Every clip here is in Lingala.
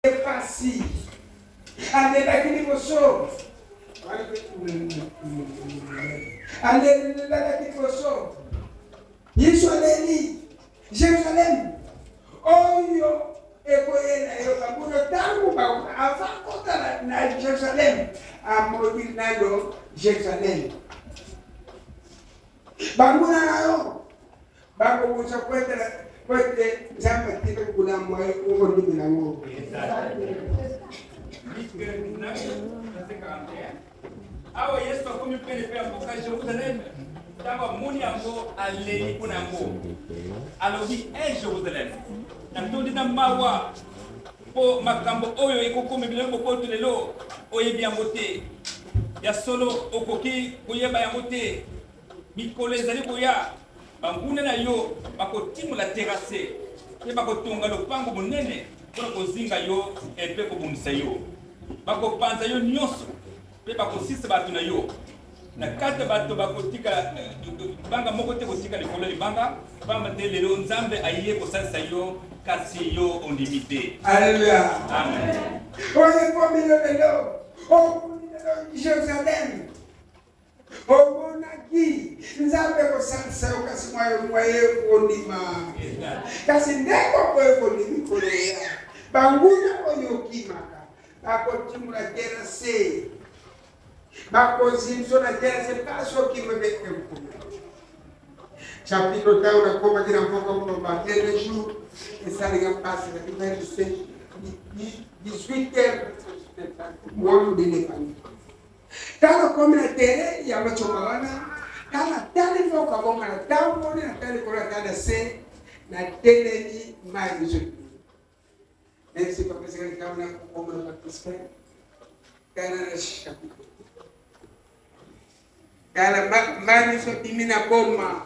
pasi alelaki liboso alelelaki liboso yesu aleli jerusalem oyo ekoyela yo babuno ntango ava kota na jerusalem amoni nano jerusalem banguna na yo bakobutsa kwetela kwete nzambe atika kolambo ayo okondimela ngo awa yesu akomi pene mpe akoka jerusalem ntango amoni yango alei mpo na yango alobi e jerusalem natondi na mawa mpo makambo oyo ekokomi bino bokoto lelo oyebi yango te ya solo okoki koyeba yango te Mikolo ezali koya, banguna na yo bakotimola terase mpe bakotonga lopango monene mpo na kozinga yo mpe kobundisa yo. Bakopanza yo nyonso mpe bakosisa bato na yo na kati ya bato bakotika libanga moko te kotika likolo libanga pamba te lelo nzambe aye kosalisa yo kasi yo ondimi te aleluya amen oyekomi lolelo okulilelo jerusalem omonaki nzambe kosalisa yo kasi mwayo mwaye kondima kasi ndenge okoye kondimi koloya banguna oyo okimaka bakotimula te na se bakozimso na te na se mpasi okima mpe ekuna chapito ntango nakomaki na mboka moloba tele jour esalinga mpasi na bino lise 18 heures moyo nde nepani Ntango akomi na tere ya macoma wana, ntango natali mboka bonga, natamboli, natali likolo, natali na se, nateleli mai mizoli. Même si papa ezali likambo na kokoma na bakristo, tala na chapitre tala mai miso bimi na boma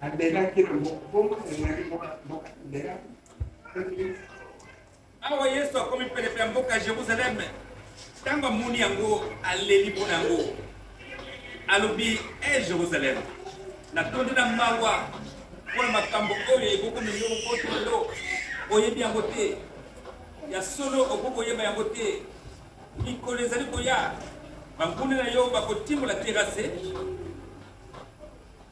nabelaki na mokobongo ezali mboka mbela awa yesu akomi penepene ya mboka jerusaleme ntango amoni yango aleli mpo na yango alobi e jerusaleme natondi na mawa mpo na makambo oyo ekokomi yo otondo oyebi yango te ya solo okoki koyeba yango te mikolo ezali koya banguna na yo bakotimola terase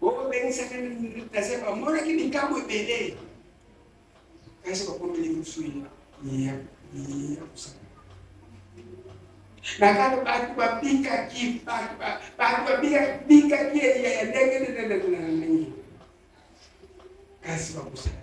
obengisaka naza bamonaki likambo ebele kasi bakomeli mosu ya kosala nakano bato babikaki bato babikaki eya ya ndenge ndenge ndenge kasi bakosala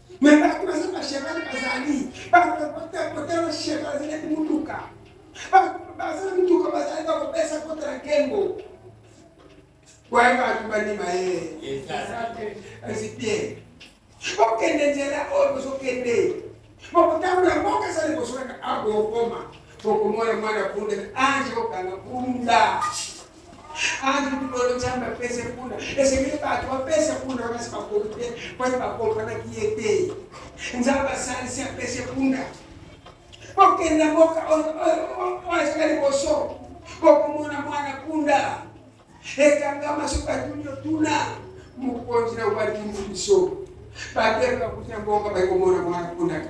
me bato baza bashevale bazali bakotela shevale azalaki motuka baza motuka bazali bakopesa kota na nkengo waye bato bandima ye esi te bokende nzela oyo bozokende bokotambola mboka eza liboso kaka awa bokokoma bokomona mwana punda ange kokanga punda Andu bolo Nzambe apesa kuna esengeli bato bapesa kuna bakasi bakolo te mponi bakompanaki ye te Nzambe asalisi apesa kuna okenda mboka oya liboso okomona mwana punda ekangama soki batuni otuna mokonzi na obandimi biso bato bakuti na mbongo bakomona mwana pundaka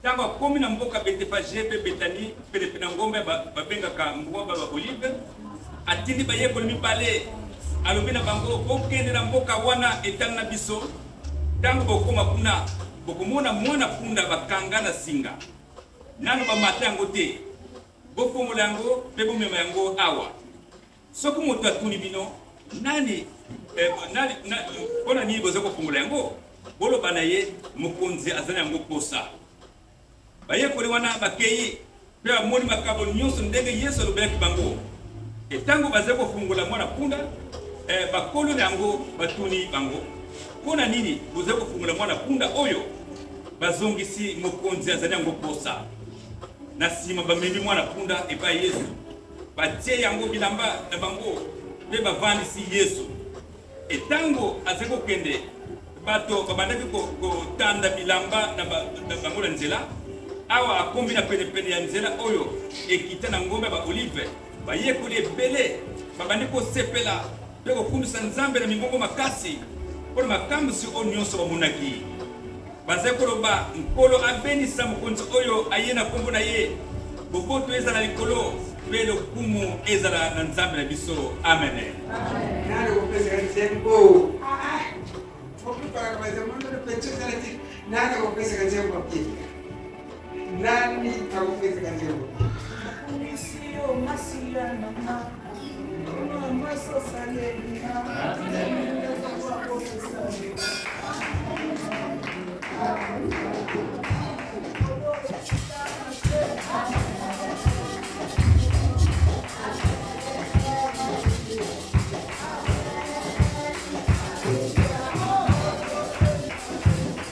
Ntango akomi na mboka Betefage mpe Betani, penepene na ngomba babengaka ngomba ba Olive, atindi bayekoli mibale, alobi na bango, bokende na mboka wana etali na biso. Ntango bokoma kuna, bokomona mwana punda bakanga na singa, nano bamata yango te. Bofongola yango mpe bomema yango awa. soki moto atuni bino nani eh, mpo na nini boza kofungola yango boloba na ye mokonzi aza na yango mposa bayekoli wana bakei mpe bamoni makambo nyonso ndenge yesu alobelaki bango e ntango bazali kofungola mwana mpunda eh, bakolo na yango batuni bango mpo na nini bozali kofungola mwana mpunda oyo bazongisi mokonzi azali yango mposa na nsima bamemi mwana mpunda epai yesu batie yango bilamba na bango mpe bavandisi yesu e ntango azali kokende bato babandaki kotanda bilamba na bango na nzela awa akomi na penepene ya nzela oyo ekita na ngomba ya baolive bayekoli ebele babandi kosepela mpe kokumisa nzambe na mingongo makasi mpo na makamwisi oyo nyonso bamonaki bazali koloba nkolo abenisa mokonzi oyo aye na nkombo na ye boboto ezala likolo mpe lokumu ezala na nzambe na biso amene nani akopesaka nzembo nani akopesaka nzembo nakumisi yo masila na nga masosalelina